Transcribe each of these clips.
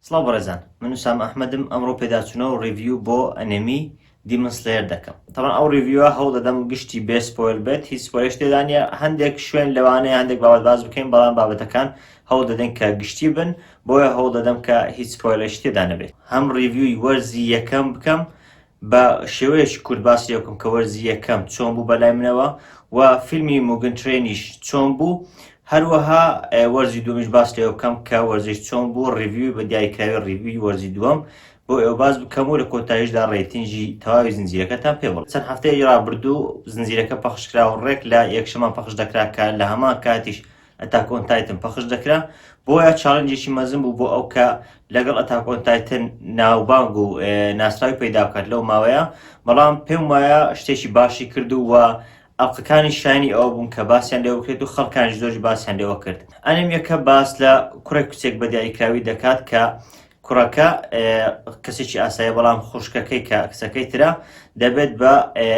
سڵاو بەڕێزان من سام ئەحمەدم ئەمڕۆ پێداچوونەوە ڕیڤیو بۆ ئەنێمی دیمەسلێر دەکەم تەمان ئەو ڕیڤیوە هەوڵ دەدەم گشتی بێسپۆل بێت هیچ پۆلش تێدانە هەندێک شوێن لەوانەیە هەندێک باوەت باز بکەین بەڵام بابەتەکان هەوڵ دەدەن کە گشتی بن بۆیە هەوڵ دەدەم کە هیچ پۆلش تێدا نەبێت هەم ڕیڤیوی وەرزی یەکەم بکەم بە شێوەیەکی کورت باسی لێ بکەم کە وەرزی یەکەم چۆن بوو بەلای منەوە و فیلمی موگن ترێنیش چۆن بوو هەروەها وەرزی دومیش باس لێ بکەم کە وەرزش چۆن بوو ڕیوی بە دیاریکراوی ڕیوی وەرزی دووەم بۆ ئێوە باز بکەم و لە کۆتاییشدا ڕێتنجی تەواوی زنجیرەکەتان پێ بڵێ چەند هەفتەیە ڕابردوو زنجیرەکە پەخشکرا و ڕێک لە یەکشەمان پەخش دەکرا کە لە هەمان کاتیش ئەتاک ئۆن تایتن پەخش دەکرا بۆیە چاڵنجێکی مەزن بوو بۆ ئەو کە لەگەڵ ئەتاک ئۆن تایتن ناوبانگ و ناسراوی پەیدا بکات لەو ماوەیە بەڵام پێم وایە شتێکی باشی کرد و ئەڵلقەکانی شانی ئەوە بوون کە باسییان لێ بکرێت و خەڵکانی زۆری باسییان لێوە کرد ئەنێمیەکە باس لە کوڕێک کچێک بە دیاریکراوی دەکات کە کوڕەکە کەسێکی ئاسایە بەڵام خوشکەکەی کە کچەکەی ترە دەبێت بە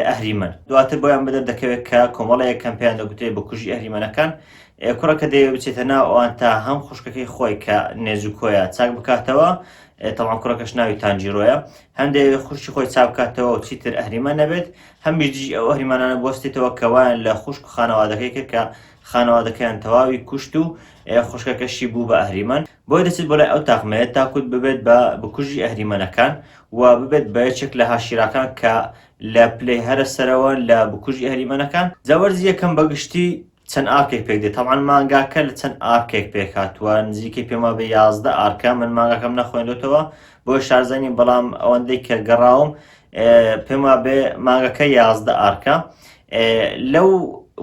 ئەهریمەن دواتر بۆیان بەدەر دەکەوێت کە کۆمەڵەیە کەم پێیان دەگوترێت بە کوژی ئەهریمەنەکان کوڕەکە دەیە بچێتە ناوان تا هەم خوشکەکەی خۆی کە نێزوکۆیە چاک بکاتەوە تەڵام کوڕەکەش ناوی تانجیرۆیە هەندێک خوشی خۆی چاکاتەوە و چیتر ئەهریمە نەبێت هەمیدی ئەو ئەهریمانانە بستێتەوە کەوایان لە خوشک و خانەوادەکەی کرد کە خانەوادەکەیان تەواوی کوشت و خوشکەکەشی بوو بە ئەهریمەن بۆیە دەچێت بۆ لای ئەو تاقمەیە تاکوت ببێت بە بکوژی ئەهریمەنەکان و ببێت بە یەکێک لە هاشیراکان کە لە پلەی هەرە سەرەوە لە بکوژی ئەهریمەنەکان جا وەرزی یەکەم بە گشتی چەند ئارکێک پێک دێت تەمان مانگاکە لە چەند ئارکێک پێک هاتووە نزیکەی پێما بە یازدە ئارکە من مانگاکەم نەخوێندوتەوە بۆ شارزانی بەڵام ئەوەندەی کە گەڕاوم پێم وابێ مانگەکە یازدە ئارکە لەو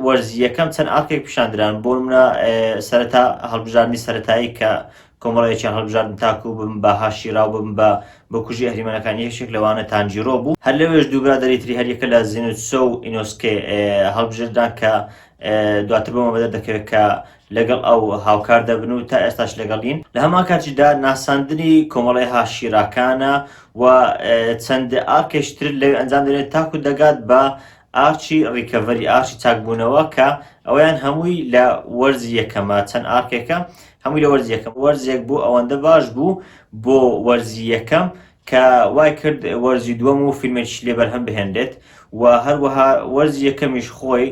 وەرزی یەکەم چەند ئارکێک پیشاندران بۆ منە سەرەتا هەڵبژاردننی سەتایی کە کۆمەڵەیەکیان هەڵبژاردن تاکو بم بە هاشیراو بم بە بکوژی ئەهریمەنەکان یەکێک لەوانە تانجیرۆ بوو هەر لەوێش دووبرا دەریتری هەریەکە لە زینوسۆ و ئینۆسکێ هەڵبژێدران کە دواتر بۆمە بەدەر دەکەوێت کە لەگەڵ ئەو هاوکار دەبن و تا ئێستاش لەگەڵین، لە هەمان کاتیشدا ناساندنی کۆمەڵەی هاشیراکانە و چەند ئارکێش تر لەوێ ئەنجام دەدرێن تاکو دەگات بە ئارچی ڕیکەڤەری، ئارچی چاکبوونەوە، کە ئەوەیان هەمووی لە وەرزی یەکەمە، چەند ئارکێکە هەمووی لە وەرزی یەکەم، وەرزێک بوو ئەوەندە باش بوو بۆ وەرزی یەکەم، کە وای کرد وەرزی دووەم و فیلمێکیش لێ بەرهەم بهێنرێت و هەروەها وەرزی یەکەمیش خۆی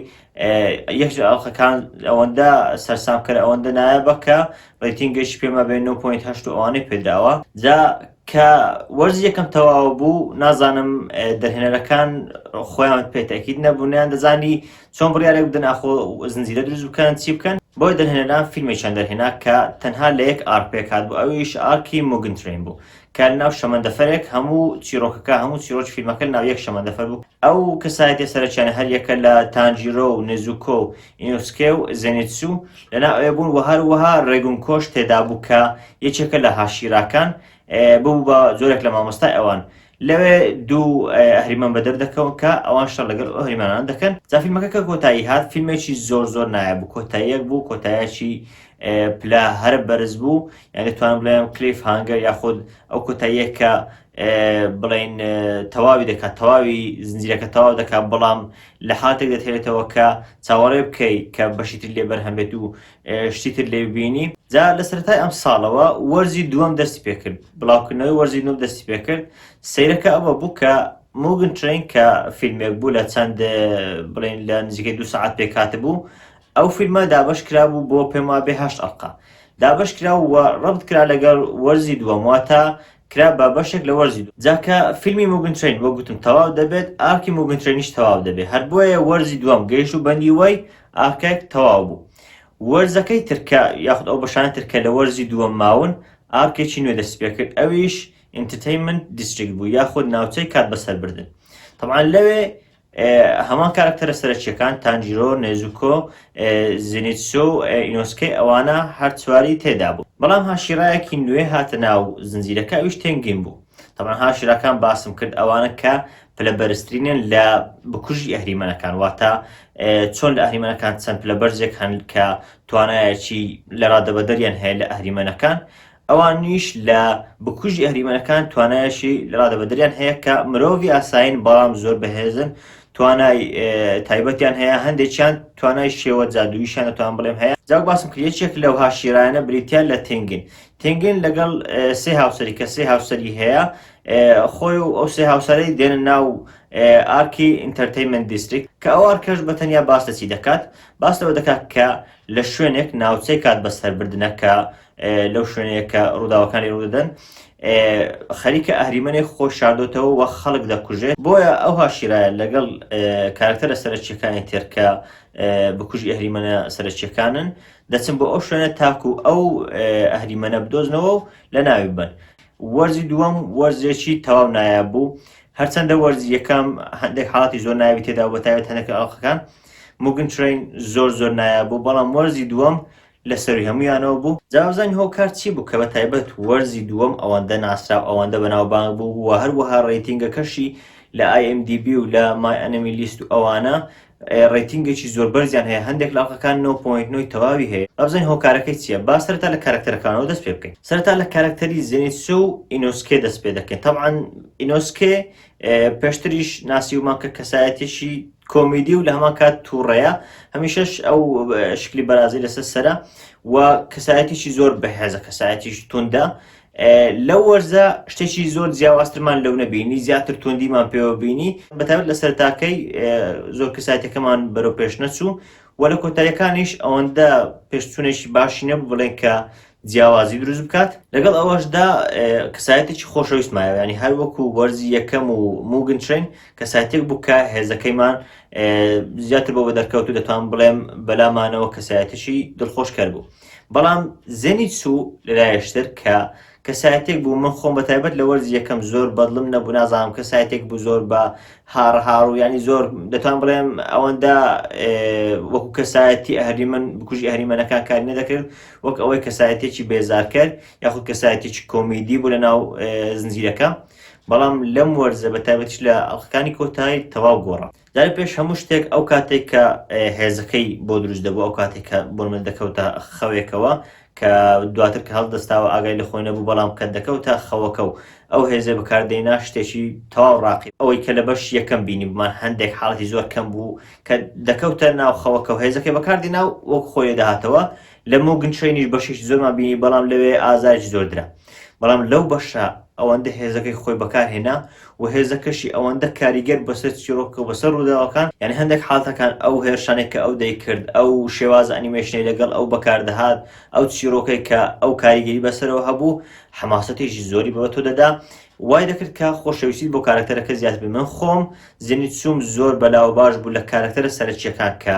یەکش ئەڵلقەکان ئەوەندە سەرسامکەر ئەوەندە نایابە کە ڕیتینگەشی پێمە بێ 9.8 ئەوانەی پێداوە جا کە وەرز یەکەم تەواو بوو نازانم دەهێنەرەکان خۆیان پێتەکیت نەبوونیان دەزانی چۆن بڕیارێک بدەن ئاخۆ زنجیرە دروست بکەن چی بکەن بۆی دەهێنەران فیلمێکیان دەهێنا کە تەنها لە یەک ئارک پێکات بوو ئەویش ئارکی مۆگنترین بوو کە لەناو شەمەندەفەرێک هەموو چیرۆکەکە هەموو چیرۆکی فیلمەکە لەناو یەک شەمەندەفەر بوو ئەو کەسایەتیە سەرەکیانە هەر یەکە لە تانجیرۆ و نێزوکۆ و ئینوسکێ و زێنیتسو لەناو ئەوێ بوون و هەروەها ڕێگون کۆش تێدا بوو کە یەکێکە لە هاشیراکان ببوو بە جۆرێک لە مامۆستای ئەوان لەوێ دوو ئەهریمان بە دەردەکەون کە ئەوان شەڕ لەگەڵ ئەهریمانان دەکەن جا فیلمەکە کە کۆتایی هات فیلمێکی زۆر زۆر نایە بوو کۆتاییەک بوو کۆتایەکی پلە هەرە بەرز بوو یان دەتوانم بڵێم کلیف هانگەر یاخود ئەو کۆتاییە کە بڵین تەواوی دەکات تەواوی زنجیرەکە تەواو دەکات بەڵام لە حاتێک دەتێتەوە کە چاوەڕێ بکەی کە بەشی تر لێ بەرهەمێت و شتی تر لێ ببینی جا لە سەرای ئەم ساڵەوە وەرزی دووەم دەستی پێکرد بڵاوکردنەوەی وەرزی نوم دەستی پێکرد سیرەکە ئەوە بوو کە موگن ترین کە فیلمێک بوو لە چەند بڵین لە نزیکەی دو سعات پێکات بوو ئەو فیلمە دابەش کرابوو بۆ پێم وابێ هەشت ئەڵقە دابەش کرا و ڕەبت کرا لەگەڵ وەرزی دووەم واتە کرا بە بەشێک لە وەرزی دووەم جا کە فیلمی موگن ترەین وەک گوتم تەواو دەبێت ئارکی موگن ترەینیش تەواو دەبێ هەر بۆیە وەرزی دووەم گەیشت و بەندی وەی ئارکێک تەواو بوو وەرزەکەی تر کە یاخود ئەو بەشانەی تر کە لە وەرزی دووەم ماون ئارکێکی نوێ دەستی پێ کرد ئەویش ئینتەتەینمنت دیستریکت بوو یاخود ناوچەی کات بەسەربردن تەبعەن لەوێ هەمان کارەکتەرە سەرەکییەکان، تانجیرۆ، نێزوکۆ، زینیتسو و ئینۆسکەی ئەوانە هەر چواری تێدا بوون. بەڵام هاشیرایەکی نوێ هاتە ناو زنجیرەکە ئەویش تێنگین بوو. تەبعەن هاشیراکان باسم کرد ئەوانە کە پلە بەرزترینن لە بکوژی ئەهریمەنەکان واتە چۆن لە ئەهریمەنەکان چەند پلە بەرزێک هەن کە توانایەکی لە ڕادەبەدەریان هەیە لە ئەهریمەنەکان ئەوانیش لە بکوژی ئەهریمەنەکان توانایەشی ڕادەبەدەریان هەیە کە مرۆڤی ئاسایین بەڵام زۆر بەهێزن توانای تایبەتیان هەیە هەندێکیان توانای شێوە جادوویشان دەتوان بڵێم هەیە جاو باسم کرد یەکێک لەو هاشیرایانە بریتیان لە تنگن تنگن لەگەڵ سێ هاوسەری کە سێ هاوسەری هەیە خۆی و ئەو سێ هاوسەرەی دێنە ناو ئارکی ئینتەرتەیمنت دیستریک کە ئەو ئارکەش بە تەنیا باس لەچی دەکات باس لەوە دەکات کە لە شوێنێک ناوچەی کات بەسەربردنەکە لەو شوێنەیە کە ڕووداوەکانی ڕوودەدەن خەریکە ئەهریمەێک خۆ شاردۆتەوە وە خەڵک دەکوژێت بۆیە ئەو هاشیرایە لەگەڵ کارکتەرە سەرچەکانی تێرکە بکوژی ئەهریمەە سەرچەکانن دەچم بۆ ئەو شوێنە تاکو ئەو ئەهریمەە بدۆزنەوە و لە ناوی بن وەرزی دووەم وەرزێکی تەواو نایاب بوو هەرچەندە وەرزی یەکەم هەندێک حاڵاتی زۆر ناوی تێدا بە تاوێت هەنەکە ئەڵخەکان مگن ترین زۆر زۆر نایاب بوو بەڵام وەرزی دووەم لەسەروی هەمویانەوە بوو جاوزانی هۆکار چی بوو کە بە تایبەت وەرزی دووەم ئەوەندە ناسراو ئەوەندە بەناوبانگ بوو وە هەروەها ڕەیتینگەکەشی لە ئای ئێم دی بی و لە مای ئەنمی لیست و ئەوانە ڕەیتینگێکی زۆر بەرزیان هەیە هەندێک لە ئەڵقەکان نۆ پۆینت نۆی تەواوی هەیە با بزانین هۆکارەکەی چیە با سەرەتا لە کارەکتەرەکانەوە دەست پێ بکەین سەرەتا لە کارەکتەری زێنیتسو و ئینۆسکێ دەست پێ دەکەین تەبعەن ئینۆسکێ پێشتریش ناسیومان کە کەسایەتێکی کۆمیدی و لە هەمان کات تووڕەیە هەمیشەش ئەو شکلی بەرازی لەسەر سرە و کەسایەتیی زۆر بەهێزە کەسایەتیش توندە لەو وەرزە شتێکی زۆر جیاوازترمان لەو نەبینی زیاتر توندیمان پێوە بینی بەتابەت لە سەرتاکەی زۆر کەسایەتەکەمان بەرەو پێش نەچوو و لە کۆتایەکانیش ئەوەندە پێشچوونێکی باشی نەبوو بڵێن کە جیاوازی دروست بکات، لەگەڵ ئەوەشدا کەسایەتێکی خۆشەویست مایەوە، یانی هەر وەکو وەرزی یەکەم و موگن ترین کەسایەتێک بوو کە هێزەکەیمان زیاتر بۆ بە دەرکەوت و دەتوان بڵێم بەلامانەوە کەسایەتیشی دڵخۆشکەر بوو بەڵام زێنی چوو لەلایشتر کە کەسایەتێک بوو من خۆم بە تایبەت لە وەرز یەکەم زۆر بەدڵم نەبوو نازانم کەسایەتێک بوو زۆر بە هاڕهاڕ و ینی زۆر دەتوان بڵێم ئەوەندە وەکو کەسایەتی ئەهری من بکوژی ئەهریمەنەکان کاری نەدەکرد وەک ئەوەی کەسایەتێکی بێزارکەر یاخود کەسایەتێکی کۆمیدی بوو لە ناو زنجیرەکە بەڵام لەم وەرزە بە تایبەتش لە ئەڵلقەکانی کۆتایی تەواو گۆڕا جارە پێش هەموو شتێک ئەو کاتێک کە هێزەکەی بۆ دروست دەبوو ئەو کاتێک کە بۆ من دەکەوتە خەوێکەوە کە دواتر کە هەڵدەستاوە ئاگای لە خۆی نەبوو بەڵام کە دەکەوتە خەوەکە و ئەو هێزێ بەکاردێنا شتێکی تەواو ڕاقی ئەوەی کە لە بەش یەکەم بینی بمان هەندێک حاڵەتی زۆر کەم بوو کە دەکەوتە ناو خەوەکە و هێزەکەی بەکاردینا و وەک خۆی لێدەهاتەوە، لە موگن ترەینیش بەشێکی زۆرمان بینی بەڵام لەوێ ئازارێکی زۆر درا، بەڵام لەو بەشە ئەوەندە هێزەکەی خۆی بەکارهێنا و هێزەکەشی ئەوەندە کاریگەر بەسەر چیڕۆکەکە و بەسەر ڕووداوەکان، یانی هەندێک حاڵتەکان ئەو هێرشانەی کە ئەو دەیکرد، ئەو شێوازە ئەنیمەیشنەی لەگەڵ ئەو بەکاردەهات، ئەو چیڕۆکەی کە ئەو کاریگەری بەسەرەوە هەبوو، حەماسەتێکی زۆری بە تۆ دەدا، وای دەکرد کە خۆشەویستیت بۆ کارەکتەرەکە زیاتر بێت من خۆم زێنیتسوم زۆر بەلاو و باش بوو لە کارەکتەرە سەرەکییەکان کە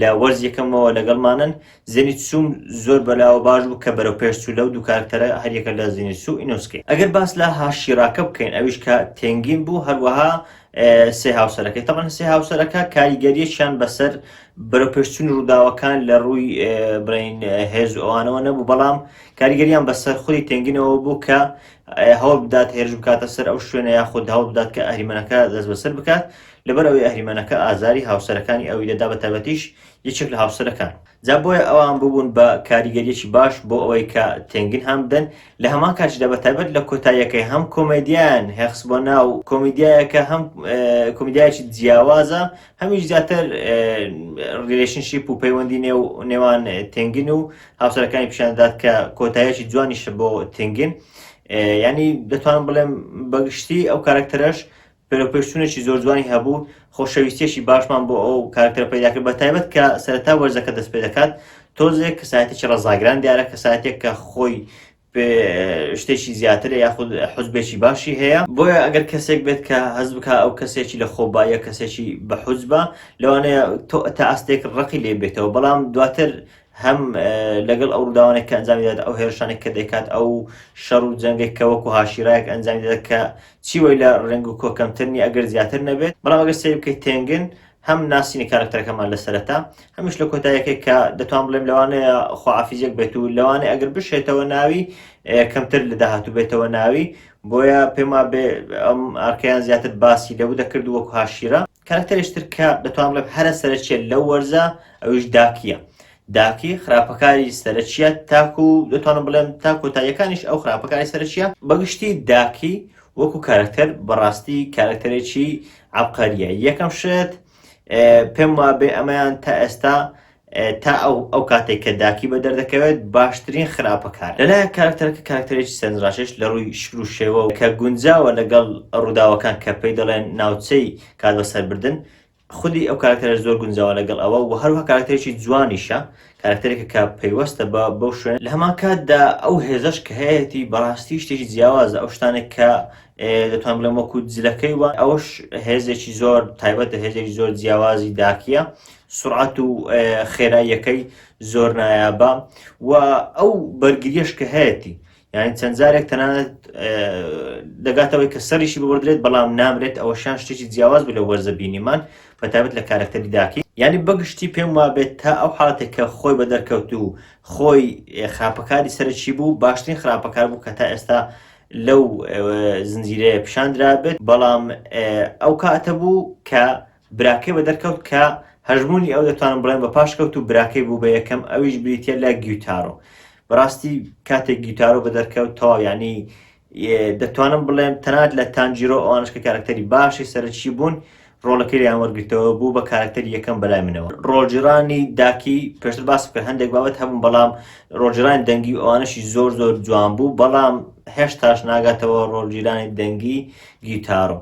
لە وەرز یەکەمەوە لەگەڵمانن زێنیتسوم زۆر بەلاوە باش بوو کە بەرەو پێش چوو لەو دوو کارەکتەرە هەریەکە لە زێنیتسو و ئینۆسکێ ئەگەر باس لە هاشیراکە بکەین ئەویش کە تێنگین بوو هەروەها سێ هاوسەرەکەی تەمەن سێ هاوسەرەکە کاریگەریەکیان بەسەر بەرەو پێشچوون ڕووداوەکان لە ڕووی بڵین هێز ئەوانەوە نەبوو بەڵام کاریگەریان بەسەر خۆی تێنگینەوە بوو کە هەوڵ بدات هێرش بکاتە سەر ئەو شوێنە یاخود هەوڵ بدات کە ئەهریمەنەکە دەست بەسەر بکات لەبەر ئەوەی ئەهریمەنەکە ئازاری هاوسەرەکانی ئەوی دەدا بە تایبەتیش یەکێک لە هاوسەرەکان جا بۆیە ئەوان ببوون بە کاریگەریەکی باش بۆ ئەوەی کە تێنگن هەم بدەن لە هەمان کاتیشدا بە تایبەت لە کۆتاییەکەی هەم کۆمەدیان هێخس بۆ ناو کۆمیدیایەکە هەم کۆمیدیایەکی جیاوازە هەمیش زیاتر ریلشنشیپ و پەیوەندی نێو نێوان تنگن و هاوسەرەکانی پیشاندات کە کۆتایەکی جوانیش بۆ تنگن ینی دەتوانم بڵێم بەگشتی ئەو کارکتەرەش پێرەپێشتونێکی زۆر جوانی هەبوو خۆشەویستێکی باشمان بۆ ئەو کارکتەر پیداکرد بە تایبەت کە سەرتا وەرزەکە دەست پێ دەکات تۆزێک کەسایەتێکی ڕزاگران دیارە کەساتێک کە خۆی پێ شتێکی زیاترە یاخود حزبێکی باشی هەیە بۆیە ئەگەر کەسێک بێت کە هەز بک ئەو کەسێکی لە خۆبایە کەسێکی بە حوزبە لەوانەیە تۆ تا ئەستێک ڕقی لێ بێتەوە بەڵام دواتر هەم لەگەڵ ئەو ڕووداوانێک کە ئەنجامی دەێت ئەو هێرشانێک کە دەکات ئەو شەڕ و جەنگێک کە وەکو هاشیرایەک ئەنجامی دەێت کە چی وی لە ڕێنگ و کۆکەمترنی ئەگەر زیاتر نەبێت بەڵام ئەگەر سێ بکەیت تێنگن هەم ناسینی کارکتەرەکەمان لە سەرەتا هەمیش لە کۆتایەکەی کە دەتوان بڵێم لەوانەیە خواعافیزیەک بێت و لەوانەیە ئەگەر بشێتەوە ناوی کەمتر لە داهاتوو بێتەوە ناوی بۆیە پێما بێ ئەم ئارکەیان زیاتر باسی لەو دەکرد وەکو هاشیرە کارکتەرێشتر کە دەتوان بڵێم هەرە سەرچێت لەو وەرزە ئەویش داکیە داکی خراپەکاری سەرچیە تاکو دەتوانم بڵێم تا کۆتاییەکانیش ئەو خراپەکاری سەرچیە بەگشتی داکی وەکو کارەکتەر بەڕاستی کارەکتەرێکی عەبقەریە یەکەم شت پێم وابێ ئەمەیان تا ئێستا تا ئەو ئەو کاتێک کە داکی بە دەردەکەوێت باشترین خراپەکار لەلایەن کارکتەرەکە کارکتەرێکی سەنجڕاشێش لە ڕووی شکل و شێوە کە گونجاوە لەگەڵ ڕووداوەکان کە پێی دەڵێن ناوچەی کات بەسەربردن خودی ئەو کاراکتەرەش زۆر گونجاوە لەگەڵ ئەوە و هەروەها کاراکتەرێکی جوانیشە، کاراکتەرێکە کە پەیوەستە بە بەو شوێنە، لە هەمانکاتدا ئەو هێزەش کە هەیەتی بەڕاستی شتێکی جیاوازە، ئەو شتانەی کە دەتوانم بڵێم وەکو جلەکەی وا، ئەوەش هێزێکی زۆر تایبەتە، هێزێکی زۆر جیاوازی داکییە، سورعەت و خێراییەکەی زۆر نایابە و ئەو بەرگرییەش کە هەیەتی، یانی چەند جارێک تەنانەت دەگاتەوەی کە سەریشی ببدرێت بەڵام نامرێت ئەوەشان شتێکی جیاواز بوو لە وەرزە بینیمان بە تابێت لە کارەکتەری داکی یعنی بەگشتی پێم وابێت تا ئەو حاڵەتێک کە خۆی بە دەرکەوت و خۆی خراپەکاری سەرچی بوو باشترین خراپەکار بوو کە تا ئێستا لەو زنجیرەیە پیشاندرابێت بەڵام ئەو کاتە بوو کە براکەی بە دەرکەوت کە هەژموونی ئەو دەتوانم بڵێم بە پاشکەوت و براکەی بوو بە یەکەم ئەویش بریتیە لە گیوتارۆ بەڕاستی کاتێک گیوتارۆ بە دەرکەوت تەواو یعنی دەتوانم بڵێم تەنات لە تانجیرۆ ئەوانش کە کارکتەری باشی سەرچی بوون ڕۆڵەکەی لەیان وەرگرتەوە بوو بە کارکتەر یەکەم بەلای منەوە ڕۆژیرانی داکی پێشتر باس بکە هەندێک بابەت هەبوون بەڵام ڕۆژیرانی دەنگی ئەوانشی زۆر زۆر جوان بوو بەڵام هێشتاش ناگاتەوە ڕۆژیرانی دەنگی گیتارۆ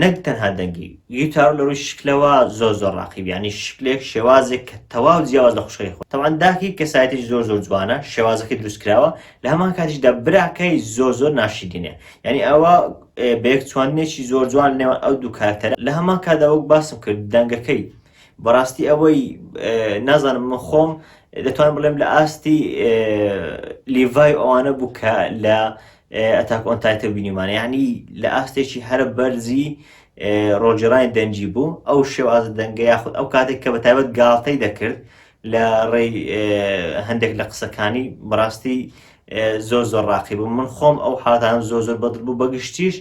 نەک تەنها دەنگی گیتارو لەرووی شکلەوە زۆر زۆر ڕاقی یانی شکلێک شێوازێک کە تەواو جیاواز لە خوشکەکەی خۆی تەبعەن داکی کەسایەتیی زۆر زۆر جوانە شێوازەکەی دروست کراوە لە هەمان کاتیشدا براکەی زۆر زۆر ناشیرینە یانی ئەوە بەیەک چواندنێکی زۆر جوان نێوان ئەو دوو کارکتەرە لە هەمان کاتدا وەک باسم کرد دەنگەکەی بەڕاستی ئەوەی نازانم من خۆم دەتوانم بڵێم لە ئاستی لیڤای ئەوانە بوو کە لە ئەتاک ئۆن تایتە بینیمانە یعنی لە ئاستێکی هەرە بەرزی ڕۆژێڕانی دەنجی بوو ئەو شێوازە دەنگە یاخود ئەو کاتێک کە بە تایبەت گاڵتەی دەکرد لە ڕێی هەندێک لە قسەکانی بڕاستی زۆر زۆر ڕاقی بوو من خۆم ئەو حاتان زۆر زۆر بەدڵ بوو بەگشتیش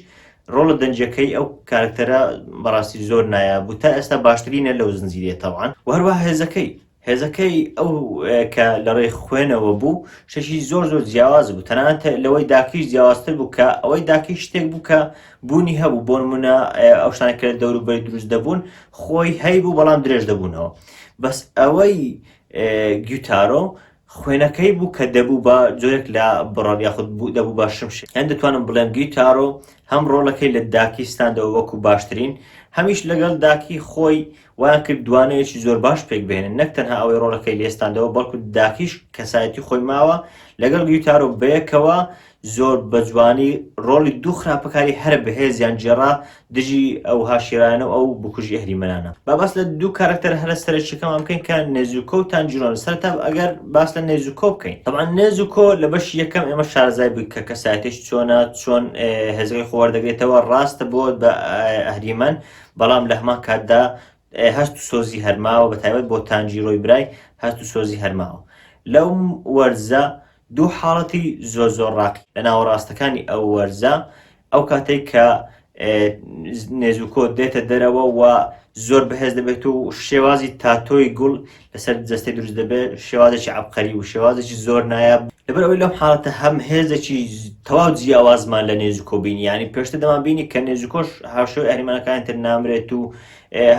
ڕۆڵە دەنجەکەی ئەو کارکتەرە بەڕاستی زۆر نایە بوو تا ئێستا باشترینە لەو زنجیرێتەوان وهروە هێزەکەی هێزەکەی ئەو کە لە ڕێی خوێنەوە بوو شتێکی زۆر زۆر جیاواز بوو تەنانەت لەوەی داکیش جیاوازتر بوو کە ئەوەی داکی شتێک بوو کە بوونی هەبوو بۆ نمونە ئەو شتانە کە دەوروبەری دروست دەبوون خۆی هەی بوو بەڵام درێژ دەبوونەوە بەس ئەوەی گیوتارۆ خوێنەکەی بوو کە دەبوو بە جۆرێک لە بڕەڵ یاخود بوو دەبوو بە شمش هەند دەتوانم بڵێم گیتارۆ هەم ڕۆڵەکەی لە داکیستاندەوە وەکو باشترین هەمیش لەگەڵ داکی خۆی وایان کرد دوانەوێکی زۆر باش پێکبهێنن، نەک تەنها ئەوەی ڕۆڵەکەی لێستاندەوە، بەڵکو داکیش کەسایەتی خۆی ماوە، لەگەڵ ریوتارۆ بەیەکەوە زۆر بەجوانی ڕۆڵی دوو خراپەکاری هەرە بەهێزیان گێڕا دژی ئەو هاشیرایانە و ئەو بکوژی ئەهریمەنانە. با باس لە دوو کارەکتەرە هەرە سەرەکیەکەمان بکەین کە نێزوکۆ و تانجیرۆن، سەرەتا ئەگەر باس لە نێزوکۆ بکەین، تەبعەن نێزوکۆ لە بەشی یەکەم ئێمە شارەزای بووین کە کەسایەتیەکی چۆنە، چۆن هێزەکەی خۆ وەردەگرێتەوە، ڕاستە بۆت بە ئەهریمەن، بەڵام لە هەمان کاتدا هەست و سۆزی هەرماوە بە تایبەت بۆ تانجیرۆی برای هەست و سۆزی هەرماوە لەو وەرزە دوو حاڵەتی زۆر زۆر ڕاقی لە ناوەڕاستەکانی ئەو وەرزە ئەو کاتێک کە نێزوکۆ دێتە دەرەوە و زۆر بەهێز دەبێت و شێوازی تاتۆی گوڵ لەسەر جەستەی دروست دەبێت شێوازێکی عەبقەری و شێوازێکی زۆر نایاب لەبەر ئەوەی لەم حاڵەتە هەم هێزێکی تەواو جیاوازمان لە نێزیکۆ بینی ینی پێشتە دەمان بینی کە نێزیکۆش هاشۆی ئەریمانەکانی تر نامرێت و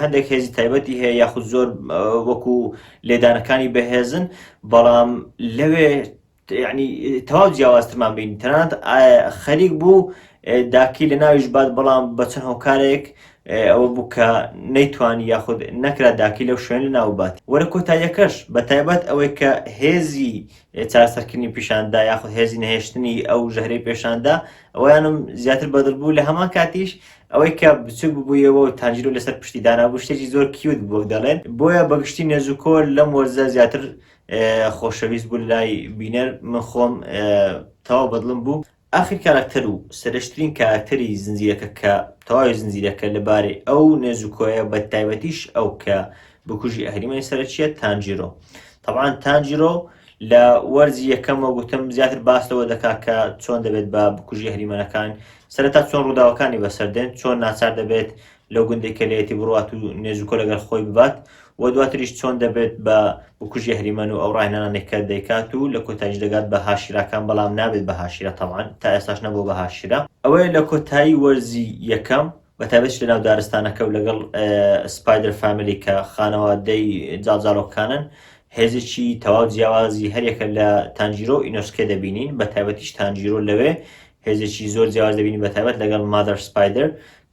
هەندێک هێزی تایبەتی هەیە یاخود زۆر وەکو لێدانەکانی بەهێزن بەڵام لەوێ یەعنی تەواو جیاوازترمان بین تەنانەت خەریک بوو داکی لە ناویش بات بەڵام بە چەند هۆکارێک ئەوە بوو کە نەیتوانی یاخود نەکرا داکی لەو شوێن لە ناو بات وەرە کۆتاییەکەش بە تایبەت ئەوەی کە هێزی چارەسەرکردنی پیشاندا یاخود هێزی نەهێشتنی ئەو ژەهرەی پێشاندا ئەویانم زیاتر بەدڵ بوو لە هەمان کاتیش ئەوەی کە بچوک ببوویەوە و تانجیرو لەسەر پشتی دانابوو شتێکی زۆر کیوت بۆ دەڵێن بۆیە بەگشتی نێزوکۆر لەم وەرزە زیاتر خۆشەویست بوون لای بینەر من خۆم تەواو بەدڵم بوو ئاخر کاراکتەر و سەرشترین کاراکتەری زنجیرەکە کە تەواوی زنجیرەکە لەبارەی ئەو نێزوکۆیە بە تایبەتیش ئەو کە بکوژی ئەهریمەی سەرچیە تانجیرۆ طبعاان تانجیرۆ لە وەرزی یەکەمەوە گوتم زیاتر باس لەوە دەکات کە چۆن دەبێت بە بکوژی هەریمەنەکان سەرتا چۆن ڕووداوەکانی بەسەردێن چۆن ناچار دەبێت لەو گوندەی کە لێیەتی بڕوات و نێژ و کۆ لەگەل خۆی ببات و دواتریش چۆن دەبێت بە بکوژی ئەهریمەن و ئەو ڕاهێنانانەی کە دەیکات و لە کۆتاییش دەگات بە هاشیراکان بەڵام نابێت بە هاشیرا تەبعەن تا ئێستاش نەبووە بە هاشیرا. ئەوەیە لە کۆتایی وەرزی یەکەم بە تایبەتیش لە ناو دارستانەکە و لەگەڵ سپایدەر فامیلی کە خانەوادەی جاڵجاڵۆکەکانن هێزێکی تەواو جیاوازی هەریەکە لە تانجیرۆ و ئینۆسکێ دەبینین بە تایبەتیش تانجیرۆ لەوێ هێزێکی زۆر جیاواز دەبینین بە تایبەت لەگەڵ مادەر سپایدەر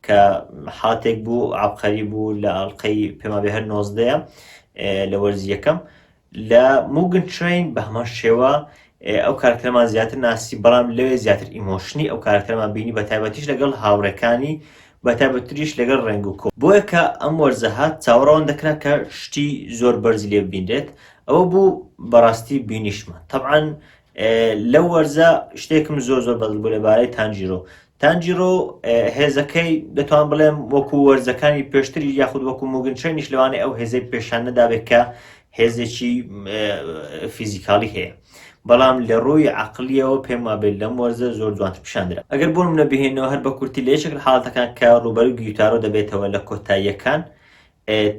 کە حاتێک بوو عەبقەری بوو لە ئەڵقەی پێمابێ هەر نۆزدەیە لە وەرزی یەکەم لە موگن ترین بە هەمان شێوە ئەو کارکتەرمان زیاتر ناسی بەڵام لەوێ زیاتر ئیمۆشنی ئەو کارکتەرمان بینی بە تایبەتیش لەگەڵ هاوڕێکانی بە تایبەتریش لەگەڵ ڕێنگ و کۆ بۆیە کە ئەم وەرزە هات چاوەڕەوان دەکرا کە شتی زۆر بەرزی لێ ببینرێت ئەوە بوو بەڕاستی بینیشمان تەبعەن لەو وەرزە شتێکم زۆر زۆر بەدڵ بوو لەبارەی تانجیرۆ تانجیرۆ هێزەکەی دەتوان بڵێم وەکو وەرزەکانی پێشتری یاخود وەکو موگنچێنیش لەوانەیە ئەو هێزەی پێشان نەدابێت کە هێزێکی فیزیکاڵی هەیە بەڵام لە ڕووی عقلیەوە پێم وابێت لەم وەرزە زۆر جوانتر پیشاندرا ئەگەر بۆم نەبهێنەوە هەر بە کورتی لە یەکێک حاڵەتەکان کە ڕوبەر گیتارۆ دەبێتەوە لە کۆتاییەکان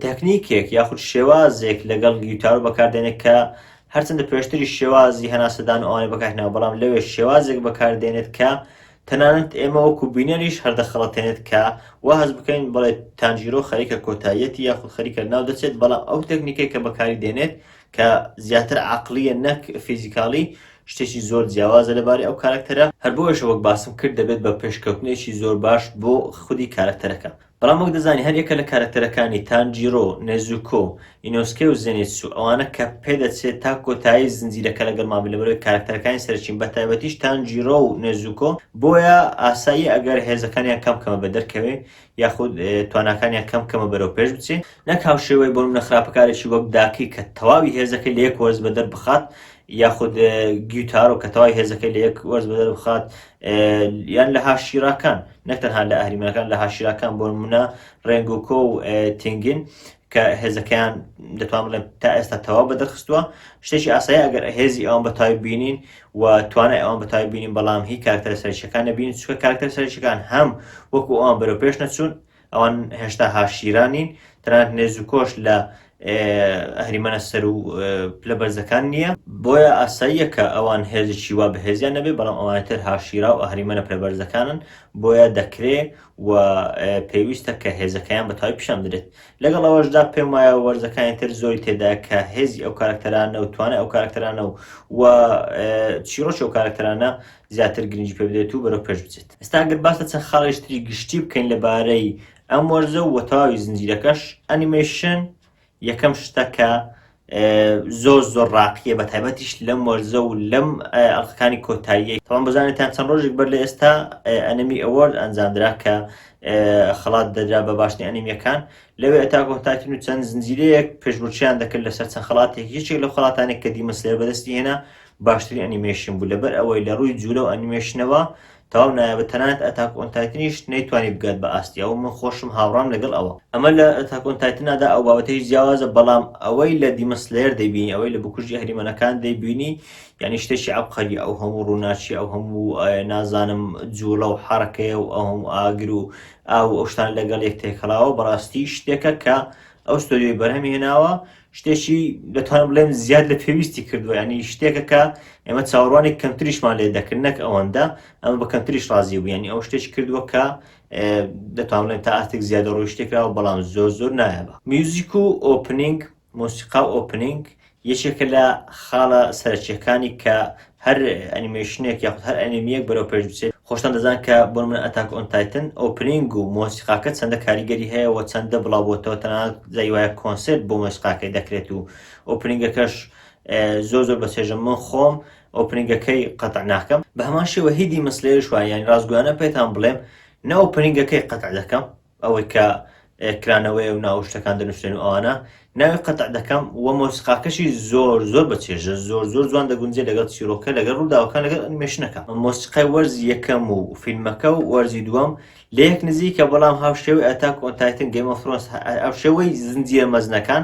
تەکنیکێک یاخود شێوازێک لەگەڵ گیوتارۆ بەکاردێنێت کە هەرچەندە پێشتری شێوازی هەناسەدان و ئەوانەی بەکارهێناوە بەڵام لەوێ شێوازێک بەکاردێنێت کە تەنانەت ئێمە وەکو بینەریش هەردەخەڵەتێنێت کە وا هەز بکەین بڵێ تانجیرۆ خەریکە کۆتاییەتی یاخود خەریکە ناو دەچێت بەڵام ئەو تەکنیکێک کە بەکاری دێنێت کە زیاتر عقلیە نەک فیزیکاڵی شتێکی زۆر جیاوازە لەبارەی ئەو کارکتەرە هەر بۆیەشە وەک باسم کرد دەبێت بە پێشکەوتنێکی زۆر باش بۆ خودی کارکتەرەکە بەڵام وەک دەزانی هەر یەکە لە کارەکتەرەکانی، تانجیرۆ، نێزوکۆ، ئینۆسکێ و زێنیتسو، ئەوانە کە پێدەچێت تا کۆتایی زنجیرەکە لەگەڵمان بن لەبەرئەوەی کارەکتەرەکانی سەرەکین بەتایبەتیش تانجیرۆ و نێزوکۆ بۆیە ئاساییە ئەگەر هێزەکانیان کەم کەمە بە دەرکەوێ یاخود تواناکانیان کەم کەمە بەرەو پێش بچێ نەک هاوشێوەی بۆ نمونە خراپەکارێکی وەک داکی کە تەواوی هێزەکەی لە یەک وەرز بەدەر بخات یاخود گیوتارۆ کە تەواوی هێزەکەی لە یەک وەرز بەدەر بخات یان لە هاشیراکان نەک تەنها لە ئەهریمەکان لە هاشیراکان بۆ نمونە ڕێنگۆکۆ و تنگین کە هێزەکەیان دەتوان بڵێ تا ئێستا تەواو بە دەرخستووە شتێکی ئاسایی ئەگەر هێزی ئەوان بەتای بینین و توانای ئەوان بەتای بینین بەڵام هی کارکتەر سەرچەکان نبین چکە کارکتەر سەرچەکان هەم وەکو ئەوان بەرەو پێش نەچوون ئەوان هێشتا هاشیرا نین، تەنانەت نێز و کۆش لە ئەهریمەنە سەر و پلە بەرزەکان نییە، بۆیە ئاساییە کە ئەوان هێزێکی وا بەهێزیان نەبێت، بەڵام ئەوانە تر هاشیرا و ئەهریمەنە پلە بەرزەکانن، بۆیە دەکرێ و پێویستە کە هێزەکەیان بە تەواوی پیشان بدرێت. لەگەڵ ئەوەشدا پێم وایە وەرزەکانی تر زۆری تێدایە کە هێزی ئەو کارەکتەرانە و توانای ئەو کارەکتەرانە و چیڕۆکی ئەو کارەکتەرانە زیاتر گرنگی پێ بدرێت و بەرەو پێش بچێت. ئێستا گەر باس لە چەند خاڵێکی تری گشتی بکەین لەبارەی ئەم وەرزە و تەواوی زنجیرەکەش، ئەنیمەیشن یەکەم شتە کە زۆر زۆر ڕاقیە بە تایبەتیش لەم وەرزە و لەم ئەڵلقەکانی کۆتاییەی تەوان بزانێتان چەند ڕۆژێک بەر لە ئێستا ئەنەمی ئەوەرد ئەنجامدرا کە خەڵات دەدرا بە باشترین ئەنیمیەکان لەوێ ئەتاکۆتاکین و چەند زنجیرەیەک پێشبرچیان دەکرد لەسەر چەند خەڵاتێک یەکێک لە خەڵاتانێک کە دیمەسلێر بەدەستی هێنا باشترین ئەنیمەیشن بوو لەبەر ئەوەی لە ڕووی جوولە و ئەنیمەیشنەوە تەواو نایابە تەنانەت ئەتاک ئۆن تایتنیش نەیتوانی بگات بە ئاستی ئەو من خۆشم هاوڕام لەگەڵ ئەوە ئەمە لە ئەتاک ئۆن تایتنادا ئەو بابەتەی جیاوازە بەڵام ئەوەی لە دیمن سلەیەر دەیبینی ئەوەی لە بکوژی ئەهریمەنەکان دەیبینی یانی شتێکی عەبقەریە ئەو هەموو ڕووناچی ئەو هەموو نازانم جووڵە و حەڕەکەیە و ئەو هەموو ئاگر و ئاو ئەو شتان لەگەڵ یەک تێکەڵاوە بەڕاستی شتێکە کە ئەو ستۆدیۆی بەرهەمی هێناوە شتێکی دەتوانم بڵێم زیاد لە پێویستی کردووە ینی شتێکە کە ئێمە چاوەڕوانی کەمتریشمان لێ دەکرد نەک ئەوەندە ئەمە بە کەمتریش ڕازی بوو ینی ئەو شتێک کردووە کە دەتوانێت تا ئاستێک زیادە ڕۆی شتێکراوە بەڵام زۆر زۆر نایەبە میوزیک و ئۆپنینگ مۆسیقا و ئۆپنینگ یەکێکە لە خاڵە سەرچیەکانی کە هەر ئەنیمەیشنێک یاخود هەر ئەنیمییەک بەرەو پێش بچێت خۆشتان دەزان کە بۆ نمونە ئەتاک ئۆن تایتن ئۆپنینگ و مۆسیقاکە چەندە کاریگەری هەیە و چەندە بڵاوبۆتەوە تەنانەت جای وایە کۆنسێرت بۆ مۆسیقاکەی دەکرێت و ئۆپنینگەکەش زۆر زۆر بەچێژە من خۆم ئۆپنینگەکەی قەتع ناکەم بە هەمان شێوە هیدی مسلێرش وایە یانی ڕاستگۆیانە پێتان بڵێم نە ئۆپنینگەکەی قەتع دەکەم ئەوەی کە کرانەوەیە و ناو شتەکان دەنووسێن و ئەوانە ناوی قەتع دەکەم و مۆسیقاکەشی زۆر زۆر بە چێژە زۆر زۆر جوان دەگونجێ لەگەڵ چیرۆکە لەگەڵ ڕووداوەکان لەگەڵ ئەنیمەیشنەکە مۆسیقای وەرزی یەکەم و فیلمەکە و وەرزی دووەم لە یەک نزیکە بەڵام هاوشێوەی ئەتاک ئۆن تایتن گەیم ئۆف ثرۆنس هاوشێوەی زنجیرە مەزنەکان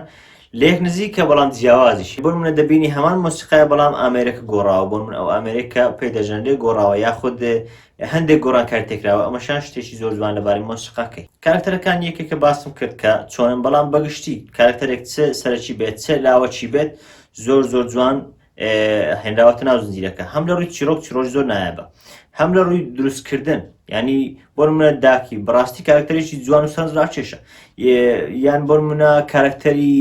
لە یەک نزیکە بەڵام جیاوازیشی بۆ منە دەبینی هەمان مۆسیقای بەڵام ئامێرەکە گۆڕاوە بۆ من ئەو ئامێرێک کە پێی دەژەنرێ گۆڕاوە یاخود هەندێک گۆڕانکاری تێکراوە ئەمەشان شتێکی زۆر جوان لەبارەی مۆسیقا کەی کارەکتەرەکان یەکێکە باسم کرد کە چۆنن بەڵام بەگشتی کارەکتەرێک چ سەرەکی بێت چ لاوەکی بێت زۆر زۆر جوان هێنراوەتە ناو زنجیرەکە هەم لە ڕووی چیرۆک چیرۆژ زۆر نایابە هەم لە ڕووی دروستکردن ینی بۆ منە داکی بڕاستی کارکتەرێکی جوان و سەرنجڕاکێشە یان بۆ منە کارکتەری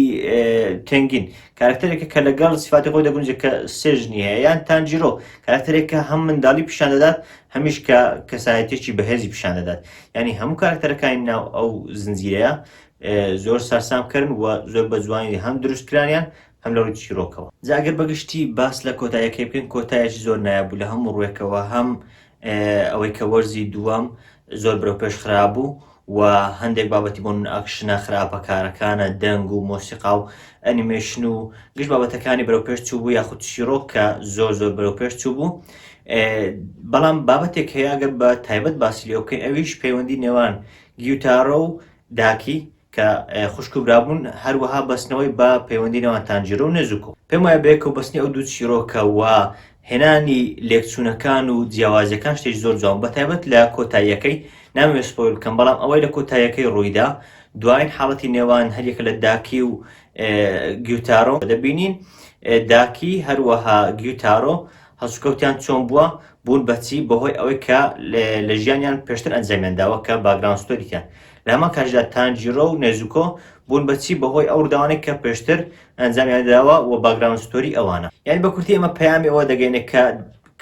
تنگین کارەکتەرێکە کە لەگەڵ سیفاتی خۆی دەگونجێت کە سێ ژنی هەیە یان تانجیرۆ کارەکتەرێک کە هەم منداڵی پیشان دەدات هەمیش کە کەسایەتێکی بەهێزی پیشان دەدات یعنی هەموو کارەکتەرەکانی ناو ئەو زنجیرەیە زۆر سەرسام کردن و زۆر بە جوانی هەم دروست کرانیان هەم لە ڕووی چیرۆکەوە جا ئەگەر بەگشتی باس لە کۆتاییەکەی بکەین کۆتایەکی زۆر نایاب بوو لە هەموو ڕووێکەوە هەم ئەوەی کە وەرزی دووەم زۆر برەو پێش خرابوو و هەندێک بابەتی بۆ من ئاکشنە خراپە کارەکانە دەنگ و مۆسیقا و ئەنیمەیشن و گشت بابەتەکانی برەو پێش چوو بوو یاخود چیرۆک کە زۆر زۆر برەو پێش چوو بوو بەڵام بابەتێک هەیە گەر بە تایبەت باسی لێ بکەین ئەویش پەیوەندی نێوان گیوتارۆ و داکی کە خوشک و برابوون هەروەها بەستنەوەی بە پەیوەندی نێوان تانجیرۆ و نێزوکۆ پێم وایە بەیەکەوە بەستنی ئەو دوو چیرۆکە و هێنانی لێکچوونەکان و جیاوازیەکان شتێک زۆر جوان بە تایبەت لە کۆتاییەکەی نامەوێت سپۆیل بکەم بەڵام ئەوەی لە کۆتاییەکەی ڕوویدا دوایین حاڵەتی نێوان هەریەکە لە داکی و گیوتارۆ دەبینین داکی هەروەها گیوتارۆ هەڵسوکەوتیان چۆن بووە، بوون بە چی، بەهۆی ئەوەی کە لە ژیانیان پێشتر ئەنجامیان داوە کە باکگراوند ستۆریتیان. لە هەمان کاتیشدا تانجیرۆ و نێزوکۆ بوون بە چی، بەهۆی ئەو ڕووداوانەی کە پێشتر ئەنجامیان داوە و باکگراوند ستۆری ئەوانە. یانی بە کورتی ئێمە پەیامی ئەوە دەگەینێ کە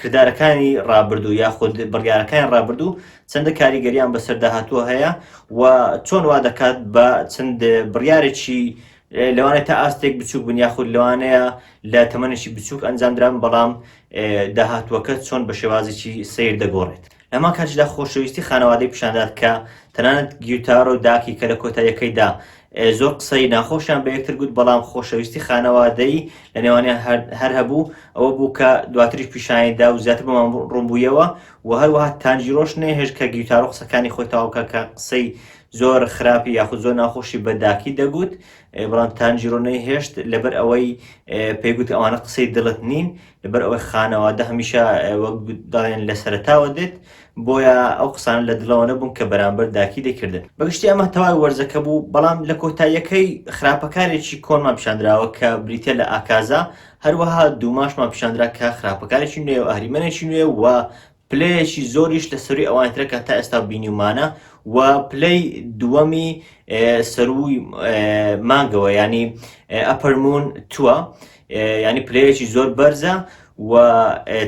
کردارەکانی ڕابردوو یاخود بڕیارەکانی ڕابردوو چەندە کاریگەرییان بەسەر داهاتووە هەیە و چۆن وا دەکات بە چەند بڕیارێکی لەوانەیە تا ئاستێک بچووک بن یاخود لەوانەیە لە تەمەنێکی بچووک ئەنجامدران بەڵام داهاتووەکە چۆن بە شێوازێکی سیر دەگۆڕێت لەما کاتیشدا خۆشەویستی خانەوادەی پیشاندات کە تەنانەت گیوتارۆ داکی کە لە کۆتاییەکەیدا زۆر قسەی ناخۆشیان بە یەکتر گوت بەڵام خۆشەویستی خانەوادەی لە نێوانیان هەر هەبوو ئەوە بوو کە دواتریش پیشانیدا و زیاتر بەمان ڕوونبوویەوە و هەروەها تانجیرۆش نەهێش کە گیوتارۆ قسەکانی خۆی تاوکە کە قسەی زۆر خراپی یاخود زۆر ناخۆشی بە داکی دەگوت بەڵام تانجیرۆ نەیهێشت لەبەر ئەوەی پێیگوت ئەوانە قسەی دڵت نین لەبەر ئەوەی خانەوادە هەمیشە وەک داڵێن لە سەرتاوە دێت بۆیە ئەو قسان لە دڵەوە نەبوون کە بەرامبەر داکی دەکردن بەگشتی ئەمە تەواوی وەرزەکە بوو بەڵام لە کۆتاییەکەی خراپەکارێکی کۆنمان پیشاندراوە کە بریتە لە ئاکازا هەروەها دووماشمان پیشاندرا کە خراپەکارێکی نوێ و ئەهریمەنێکی نوێ و پلەیەکی زۆریش لە سەرووی ئەوانی ترە کە تا ئێستا بینیومانە و پلەی دووەمی سەرووی مانگەوە ینی ئەپەرمون تووە ینی پلەیەکی زۆر بەرزە و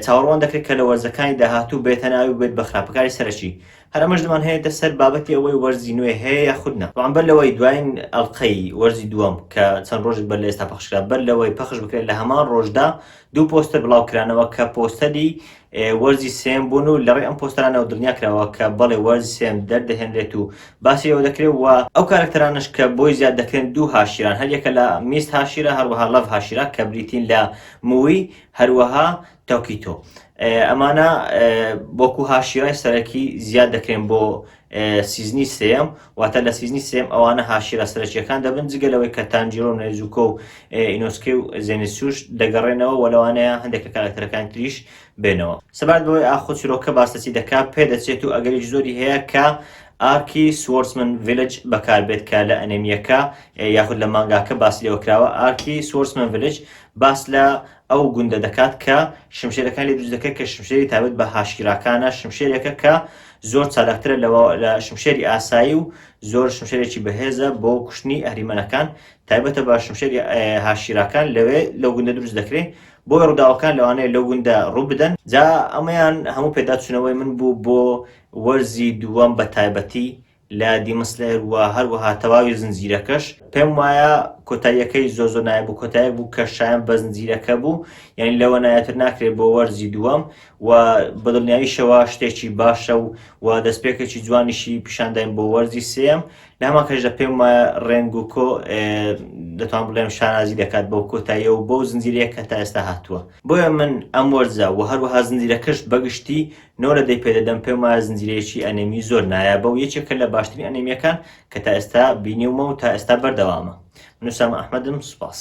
چاوەڕوان دەکرێت کە لە وەرزەکانی داهاتوو بێتە ناوی بێت بە خراپەکاری سەرەکی هەرەمەش دەمان هەیە سەر بابەتی ئەوەی وەرزی نوێ هەیە یا خودنا بەڵام بەر لەوەی دوایین ئەڵلقەی وەرزی دووەم کە چەند ڕۆژێک بەر لە ئێستا پەخشکرا بەر لەوەی پەخش بکرێت لە هەمان ڕۆژدا دوو پۆستەر بڵاو کرانەوە کە پۆستەری وەرزی سێیەم بوون و لەڕێی ئەم پۆستەرانەوە دڵنیا کراوە کە بەڵێ وەرزی سێیەم دەردەهێنرێت و باسی لێوە دەکرێت و ئەو کارەکتەرانەش کە بۆی زیاد دەکرێن دوو هاشیران هەریەکە لە میست هاشیرا هەروەها لەڤ هاشیرا کە بریتین لە موی هەروەها تۆکیتۆ ئەمانە وەکو هاشیرای سەرەکی زیاد دەکرێن بۆ سیزنی سێیەم، واتە لە سیزنی سێیەم ئەوانە هاشیرا سەرەکییەکان دەبن، جگە لەوەی کە تانجیرۆ و نێزوکۆ و ئینۆسکەی و زێنیتسوش دەگەڕێنەوە و لەوانەیە هەندێک لە کاراکتەرەکانی تریش بێنەوە. سەبارەت بەوەی ئاخۆ چیرۆکە باس لە چی دەکات، پێدەچێت و ئەگەریش زۆری هەیە کە ئارکی سوۆرسمن ڤیلج بەکاربێت کە لە ئەنێمییەکە یاخود لە مانگاکە باسی لێوە کراوە، ئارکی سوۆرسمن ڤیلج باس لە ئەو گوندە دەکات کە شمشێرەکانی لێ دروست دەکرێت کە شمشێری تایبەت بە هاشیراکانە، شمشێرێکە کە زۆر چالاکترە لە لە شمشێری ئاسایی و زۆر شمشێرێکی بەهێزە بۆ کوشتنی ئەهریمەنەکان تایبەتە بە شمشێری هاشیراکان لەوێ لەو گوندە دروست دەکرێت بۆ ڕووداوەکان لەوانەیە لەو گوندە ڕوو بدەن جا ئەمەیان هەموو پێداچوونەوەی من بوو بۆ وەرزی دووەم بە تایبەتی لە دیمسلەر و هەروەها تەواوی زنجیرەکەش پێم وایە کۆتاییەکەی زۆ زۆ نایە بوو کۆتایەک بوو کە شایان بە زنجیرەکە بوو یعنی لەوە نایەتر ناکرێت بۆ وەرزی دووەم و بەدڵنیاییشەوە شتێکی باشە و و دەستپێکێکی جوانیشی پیشانداین بۆ وەرزی سێم لە هەمان کەشدا پێم وایە ڕێنگ و کۆ دەتوان بڵێم شانازی دەکات بۆ کۆتاییە و بۆ زنجیرەیە کە تا ئێستا هاتووە بۆیە من ئەم وەرزە و هەروەها زنجیرە کەشت بەگشتی نۆ لە دەی پێدەدەم پێم وایە زنجیرەیەکی ئەنێمی زۆر نایابە و یەکێکە لە باشترین ئەنێمیەکان کە تا ئێستا بینیومە و تا ئێستا بەردەوامە من ئوسامە ئەحمەدم سوپاس.